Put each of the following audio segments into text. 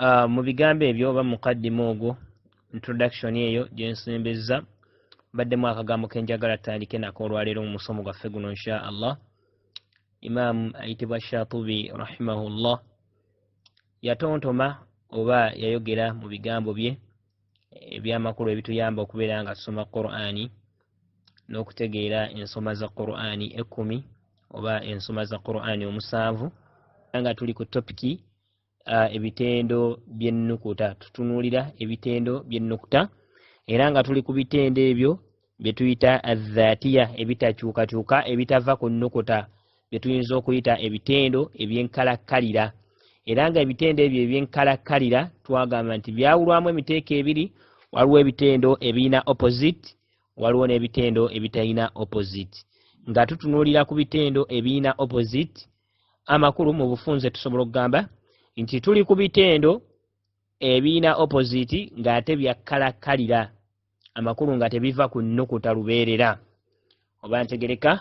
uh, mu bigambo ebyo oba mukaddima ogwo introduction eyo gyensembezza baddemu akagambo kenjagala tutandike nako olwaleero mu musomo gwaffe guno insha allah imaamu ayitibwa shatubi rahimahullah yatontoma oba yayogera mu bigambo bye ebyamakulu ebituyamba okubeera nga tusoma qurani n'okutegeera ensoma za qurani ekkumi oba ensoma za qurani omusanvu nga tuli ku topiki uh, ebitendo byennukuta tutunuulira ebitendo byennukuta era nga tuli ku bitendo ebyo bye tuyita adhatiya ebitakyukakyuka ebitava ku nnukuta bye tuyinza okuyita ebitendo ebyenkalakkalira era nga ebitendo ebyo ebyenkalakkalira twagamba nti byawulwamu emiteeko ebiri waliwo ebitendo ebirina opposite waliwo n'ebitendo ebitalina opposite nga tutunuulira ku bitendo ebirina opposite amakulu mu bufunze tusobola okugamba nti tuli ku bitendo ebiina opposite ng'ate byakkalakkalira amakulu nga tebiva ku nnukuta lubeerera oba ntegereka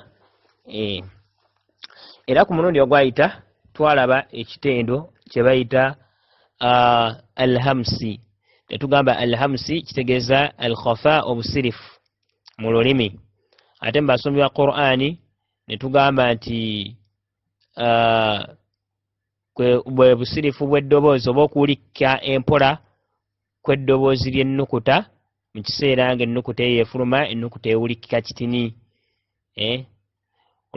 eh. era ku mulundi ogwayita twalaba ekitendo kye bayita ah, alhamsi tetugamba alhamsi kitegeeza alkhafa obusirifu mu lulimi ate mu basombi ba qur'ani ne tugamba nti uh, bwe busirifu bw'eddoboozi oba okuwulikka empola kw'eddoboozi ly'ennukuta mu kiseera nga ennukuta eyo efuluma ennukuta ewulikika kitini eh?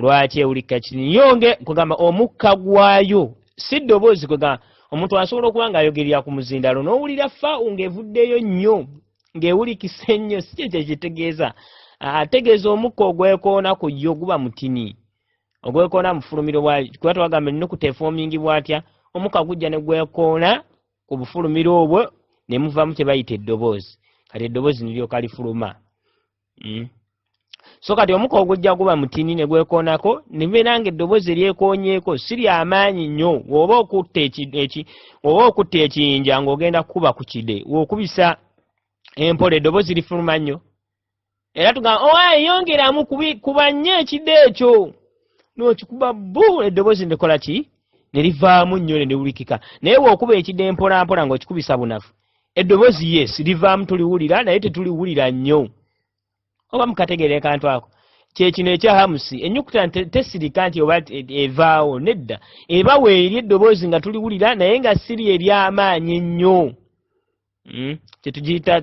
lwaki ewulikika kitini yo nge kugamba omukka gwayo si ddoboozi kwegamba omuntu asobola okuba ng'ayogerera ku muzindalo n'owulira fa ng'evuddeyo nnyo ng'ewulikisa ennyo si kye kyekitegeeza ategeeza omukka ogwekoona ku yo guba mutini ogwekoona mufulumiro bwa kuba twagamba ennukuta efoomingi bwatya omukka gujja ne gwekoona ku bufulumiro obwo ne muvamu kye bayita eddoboozi kati eddoboozi niryoka lifuluma hmm? so kati omuka ogujja guba mutini ne gwekoonako nibeera nga eddoboozi eryekoonyeeko si lyamaanyi nnyo oba okutta oba okutta ekiyinja ng'ogenda kukuba ku kide okubisa empola eddoboozi lifuluma nnyo era tugamba owa oh, eyongeramu kuba nnyo ekide ekyo n'okikuba bu eddoboozi nekola ki ne livaamu nnyo ne liwulikika naye weokuba ekide mpolampola ng'okikubisa bunafu eddoboozi yes livaamu tuliwulira naye tetuliwulira nnyo oba mukategeere kantu ako kyekino ekya hamusi enyukuta tesirika nti oba evaawo nedda eba weeri eddoboozi nga tuliwulira naye nga siri eryamaanyi ennyo hmm?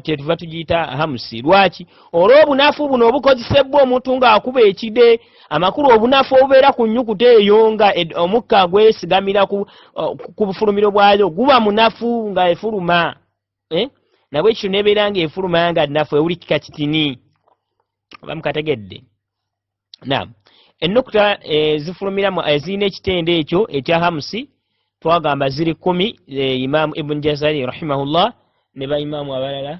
kyetuva tugiyita hamusi lwaki olw'obunafu buno obukozesebbwa omuntu ng'akuba ekide amakulu obunafu obubeera ku nnyukuta eyo nga omukka gwesigamira ku uh, bufulumiro bwayo guba munafu nga efuluma eh? nabwe ekyo nebeera nga efuluma nga nafu ewuli kika kitini oba mukategedde nam ennukuta eh, zifulumira ezirina eh, ekitendo ekyo ekya hamusi twagamba ziri kumi imaamu ibuni jazari rahimahullah ne baimaamu abalala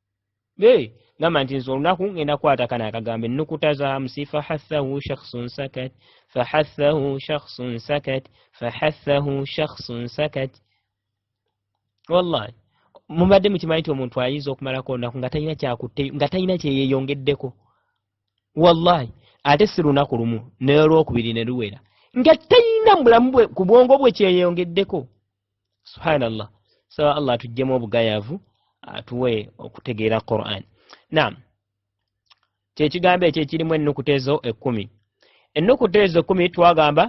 gamba nti nze olunaku ngenda kwata kana akagambo ennukuta za musi fahathahu shakhsun sakat fahathahu shakhsun sakat fahathahu shakhsun sakat wallahi mubadde mukimanyi nti omuntu ayinza okumalako olunaku nga talina kyakutte nga talina kyeyeyongeddeko wallahi ate si lunaku lumu nolwokubiri ne luwera nga talina mubulamu bwe ku bwongo bwe kyeyeyongeddeko subhanallah saba allah atuggyemu obugayavu atuwe okutegeera quran naam kyekigambo ekyo ekirimu ennukuta ezo ekkumi ennukuta ezo ekkumi twagamba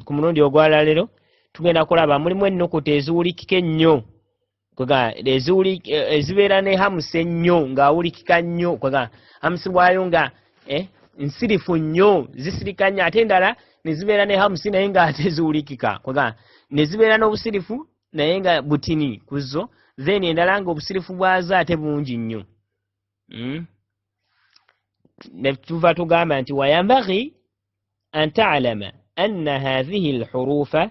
ku mulundi ogwalalero tugenda kulaba mulimu ennukuta eziwulikika ennyo ezibeera ne hamusi ennyo ng'awulikika nnyo hamusi waayo nga eh, nsirifu nnyo zisirika nnyo ate endala ne zibeera ne hamusi naye nga ate ziwulikika kwegamba ne zibeera n'obusirifu naye nga butini ku zo then endala nga obusirifu bwazo ate bungi nnyo hmm? ne tuva tugamba nti wayambagi an talama anna hathihi lhurufa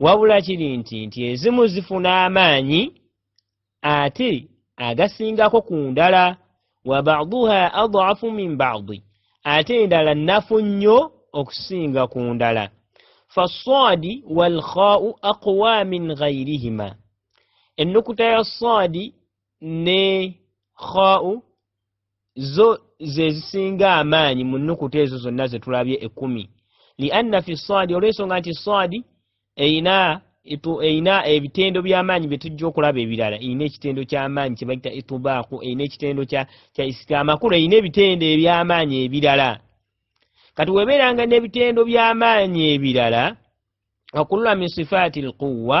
wabula kiri nti nti ezimu zifuna amaanyi ate agasingako ku ndala wa baduha adafu min badi ate endala nnafu nnyo okusinga ku ndala faswadi walkhau aqwa min ghairihima ennukuta ya swadi ne khau zo ze zisinga amaanyi mu nnukuta ezo zonna ze tulabye ekkumi lianna fi sadi olw'ensonga nti sadi erina erina ebitendo by'amaanyi bye tujja okulaba ebirala erina ekitendo ky'amaanyi kye bayita itubaaku erina ekitendo kya isika amakulu erina ebitendo eby'amaanyi ebirala kati webeeranga n'ebitendo by'amaanyi ebirala wakulula min sifaati lquwa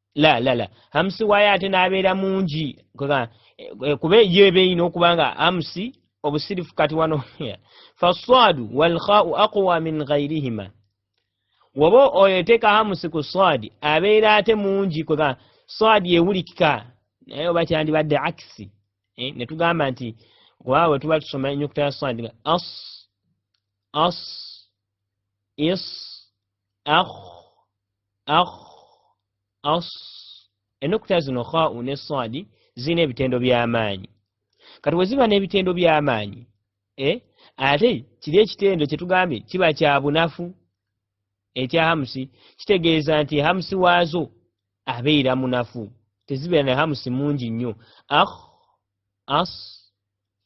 la la la hamsi wayo ate n'abeera mungi eh, kuba eyo eba erina okuba nga hamsi obusirifu kati wano faswadu walkhau aqwa min ghairihima woba oyo eteeka hamsi ku swadi abeera ate mungi kwega swadi ewulikika naye oba kyandibadde akisi eh, ne tugamba nti kuba bwe tuba tusoma enyukuta ya swadi nga as as is akh akh as ennukuta zino khau ne swadi zirina ebitendo by'amaanyi kati bwe ziba n'ebitendo by'amaanyi e ate kiri ekitendo kye tugambye kiba kya bunafu ekya hamusi kitegeeza nti hamusi waazo abeera munafu tezibeera ne hamusi mungi nnyo akh as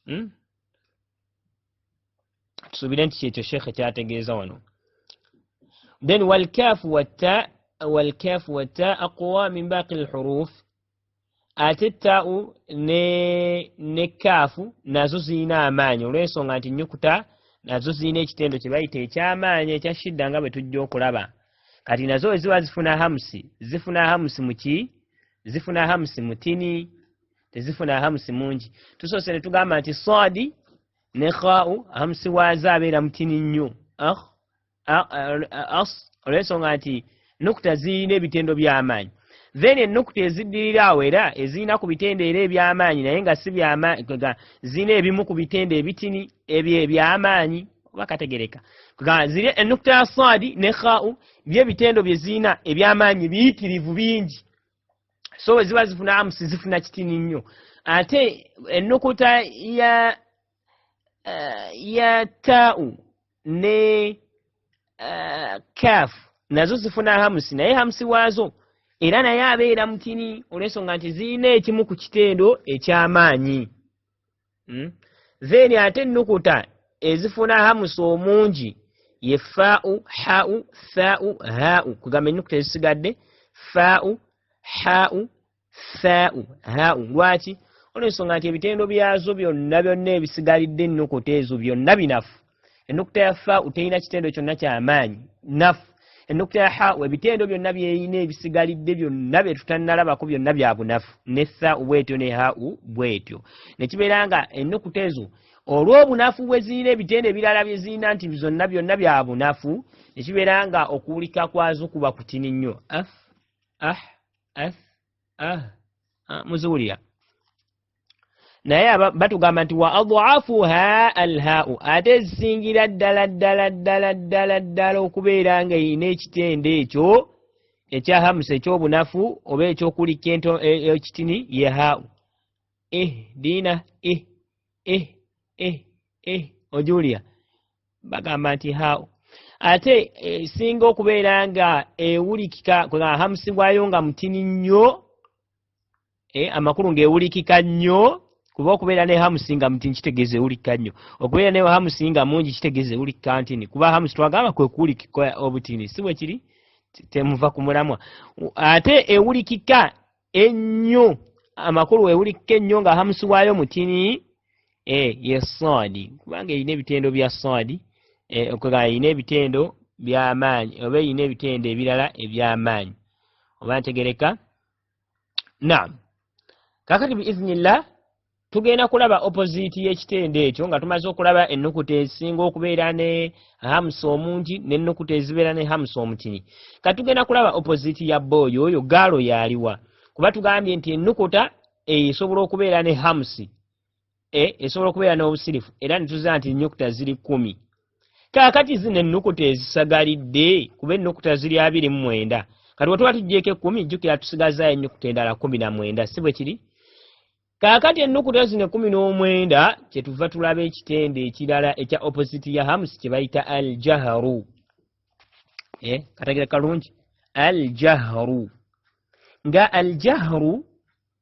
hmm? tusuubire nti kyekyo sheekhe kyategeeza wano then walkaafu watta walkaafu watta aqwa min baaqi lhuruf ate taau ne ne kaafu nazo zirina amaanyi olw'ensonga nti nnyukuta nazo zirina ekitendo kye bayita eky'amaanyi ekya shidda nga bwe tujja okulaba kati nazo eziba zifuna hamusi zifuna hamusi muki zifuna hamusi mutini tezifuna ahamusi mungi tusoose ne tugamba nti saadi ne khau ahamusi waazo abeera mutini nnyo ah, ah, ah, as olw'ensonga nti nukuta zirina ebitendo by'amaanyi then ennukuta eziddirira awo era ezirina ku bitendo era eby'amaanyi naye nga si zirina ebimu ku bitendo ebitini ebyo eby'amaanyi oba kategereka ziri ennukuta ya saadi ne khau byebitendo bye zirina eby'amaanyi biyitirivu bingi so bwe ziba zifuna amusi zifuna kitini nnyo ate ennukuta ya uh, ya tau ne uh, eh, caf nazo zifuna hamusi naye hamusi waazo era naye abeera mutini olw'ensonga nti zirina ekimu ku kitendo eky'amaanyi hmm? then ate ennukuta ezifuna hamusa omungi ye faau hau thau hau kugamba ennukuta ezisigadde faau hau thau hau lwaki olwensonga nti ebitendo byazo byonna byonna ebisigalidde ennukuta ezo byonna binafu enukuta ya fa uterina kitendo kyonna kyamaanyi naf enukuta ya ha ebitendo byonna byeyina ebisigalidde byonna byetutanalabako byonna byabunafu ne tha ubwetyo ne ha u bwetyo nekibeera nga enukuta ezo olwobunafu bwezirina ebitendo ebirala byezirina nti zonna byonna byabunafu nekibeera nga okuwulika kwazo kuba kutini nnyo ah ah ah ah muziwulira naye batugamba nti wa adhafuha alhau ate ezisingira ddala ddala ddala ddala ddala okubeera nga erina ekitendo ekyo ekya hamusa ekyobunafu oba ekyokulikka ento e, e, ekitini ye hau eh diina eh eh eh eh ojulia bagamba nti hau ate esinga eh, okubeera nga ewulikika nga hamusi gwayo nga mutini nnyo eh, amakulu ng'ewulikika nnyo kuba okubeera ne hamusi nga muti nkitegeeza ewulikika nnyo okubeera ne hamusi nga mungi kitegeeza ewulikika ntini kuba hamusi twagamba kwe kuwulikika obutini si bwe kiri temuva ku mulamwa ate ewulikika ennyo amakulu ewulikika ennyo nga hamusi waayo mutini e eh, ye soadi kubanga erina ebitendo bya soadi eh, okugamba erina ebitendo by'amaanyi oba erina ebitendo ebirala eby'amaanyi oba ntegereka naam kakati biiznillah tugenda kulaba opoziti y'ekitendo ekyo nga tumaze okulaba ennukuta esinga okubeera ne hamusa omungi n'ennukuta ezibeera ne hamusa omutini ka tugenda kulaba opoziti ya booyo oyo gaalo yaaliwa kuba tugambye nti ennukuta esobola okubeera ne hamusi eh, esobola okubeera n'obusirifu era nituza nti ennyukuta ziri kumi kaakati zino ennukuta ezisagalidde kuba ennukuta ziri abiri mu mwenda kati wetuba tujjeeko ekkumi jjukira tusigazaayo ennyukuta endala kumi na mwenda si bwe kiri kaakati ennukuta zino ekkumi n'omwenda kyetuva tulaba ekitendo ekirala ekya oppositi ya hamusi kye bayita al jaharu eh, katagira kalungi al jaharu nga al jaharu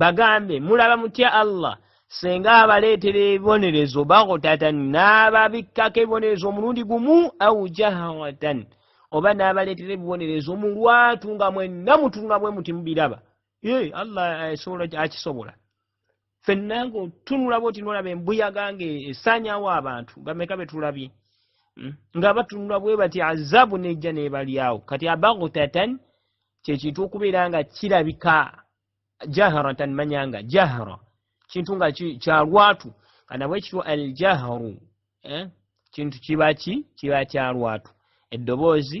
bagambe mulaba mutya allah senga abaleetera ebibonerezo bagutatan n'ababikkako ebibonerezo omulundi gumu au jahawatan oba n'abaleetera ebibonerezo mu lwatu nga mwenna mutunga bwe muti mubiraba ye allah eh, akisobola fenna nga otunula bwoti nolaba embuyaga nga esanyawo abantu bameka betulabye hmm? nga batunula bwe bati azabu nejja nebalyawo kati abagutatan kyekintu okubeera nga kirabika jaharatan manyanga jahara kintu nga kyalwatu kanabwe ekitw aljaharu eh? kintu kibaki kiba kyalwatu eddoboozi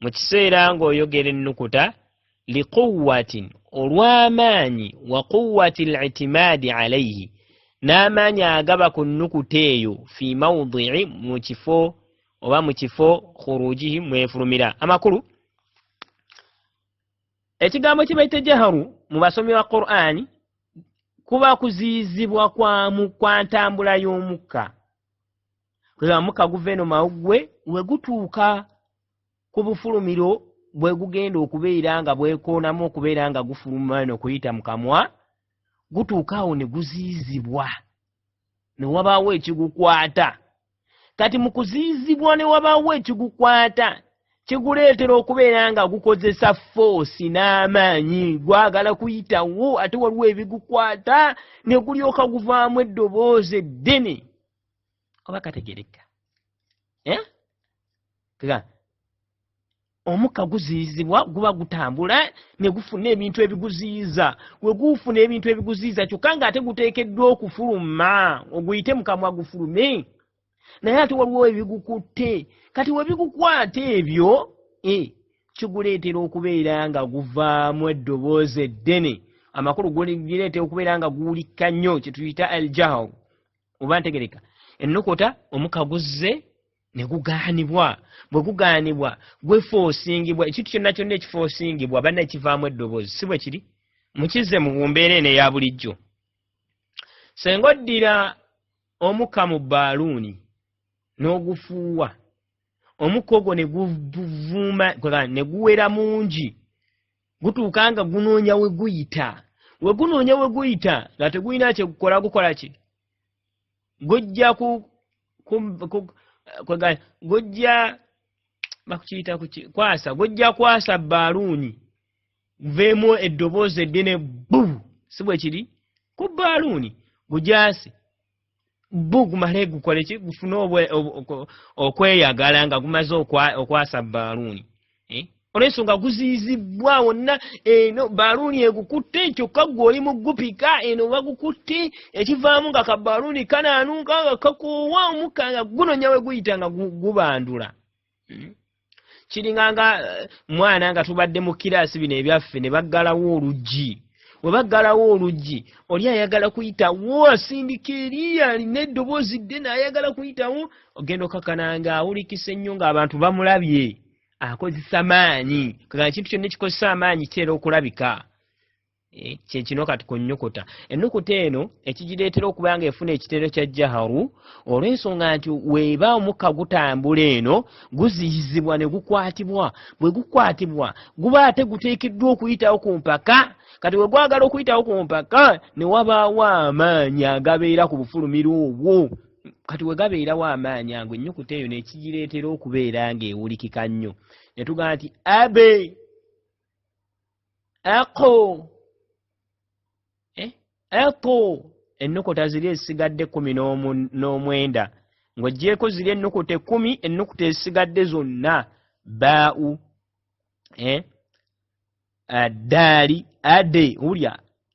mu kiseera ng'oyogera ennukuta liquwatin olw'amaanyi wa quwati litimaadi alaihi n'amaanyi agaba ku nnukuta eyo fi maudii mu kifo oba mu kifo khurujihi mwefulumira amakulu ekigambo kye baita jaharu mu basomi ba qur'ani kuba kuziyizibwa kwamu kwa ntambula y'omukka kulamuka guva eno mawuggwe we gutuuka ku bufulumiro bwe gugenda okubeera nga bwekoonamu okubeera nga gufuluma eno kuyita mu kamwa gutuuka awo ne guziizibwa ne wabaawo ekigukwata kati mu kuziizibwa ne wabaawo ekigukwata kiguleetera okubeera nga gukozesa foosi n'amaanyi gwagala kuyitawo ate waliwo ebigukwata ne gulyoka guvaamu eddoboozi eddene oba kategerekka eh? omukka guziyizibwa guba gutambula ne gufuna ebintu ebiguziyiza we gufuna ebintu ebiguziyiza kyokka nga ate guteekeddwa okufuluma oguyite mukamwa gufulume naye ate waliwo ebigukutte kati we bigukwata ebyo e kiguleetera okubeera nga guvaamu eddoboozi eddene amakulu gulireetera okubeera nga guwulikka nnyo kyetuyita aljaharu oba ntegereka ennukuta omuka guzze ne gugaanibwa bwe gugaanibwa gwefoosingibwa ekintu kyonna kyonna ekifoosingibwa banna ekivaamu eddoboozi si bwe kiri mukizze mu mbeera eno eya bulijjo senga oddira omuka mu baaluuni n'ogufuuwa omukka ogwo ne guvuma ne guwera mungi gutuuka nga gunoonya we guyita we gunoonya we guyita nga tegulina kyekukola gukola ki gujja ku gujja bakukiyita kwasa gujja kwasa baaluuni guveemu eddoboozi eddene bu si bwe kiri ku baaluuni gujaase bo gumale gukole ki gufune okweyagala nga gumaze okwasa baaluuni eh? olwensonga guziyizibbwa wonna eno baaluuni egukutte kyokka gwe oli mu gupika eno bagukutte ekivaamu nga ka baaluuni kanaanuuka nga kakoowa omukka nga gunonya we guyita nga gubandula hmm? kiringa nga eh, mwana nga tubadde mu kiraasi bino ebyaffe ne baggalawo oluggi we baggalawo oluggi oli ayagala kuyitawo asindika eri alina eddoboozi dde naayagala kuyitawo ogenda okakana nga awulikisa ennyo ng'abantu bamulabye akozesa maanyi kagana kintu kyonna ekikozesa amaanyi kiteera okulabika Eh, kyekino kati ku nnyukuta ennukuta eno ekigireetera okuba nga efuna ekitero kya jaharu olw'ensonga nti weeba omukka gutambula eno guziyizibwa ne gukwatibwa bwe gukwatibwa guba ate guteekeddwa okuyitawo ku mpaka kati we gwagala okuyitawo ku mpaka ne wabaawo amaanyi agabeera ku bufulumira obwo kati we gabeerawo amaanyi ago ennyukuta eyo nekigireetera okubeera ng'ewulikika nnyo ne tugamba nti abe aqu eh? aqu ennukuta ziri ezisigadde kumi n'omwenda ng'ogyeko ziri ennukuta ekumi ennukuta ezisigadde zonna baau eh? addaali ade wulya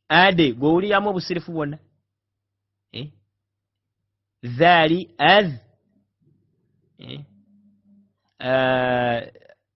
ade gwewuliramu obusirifu bwonna eh? zaali az eh? uh,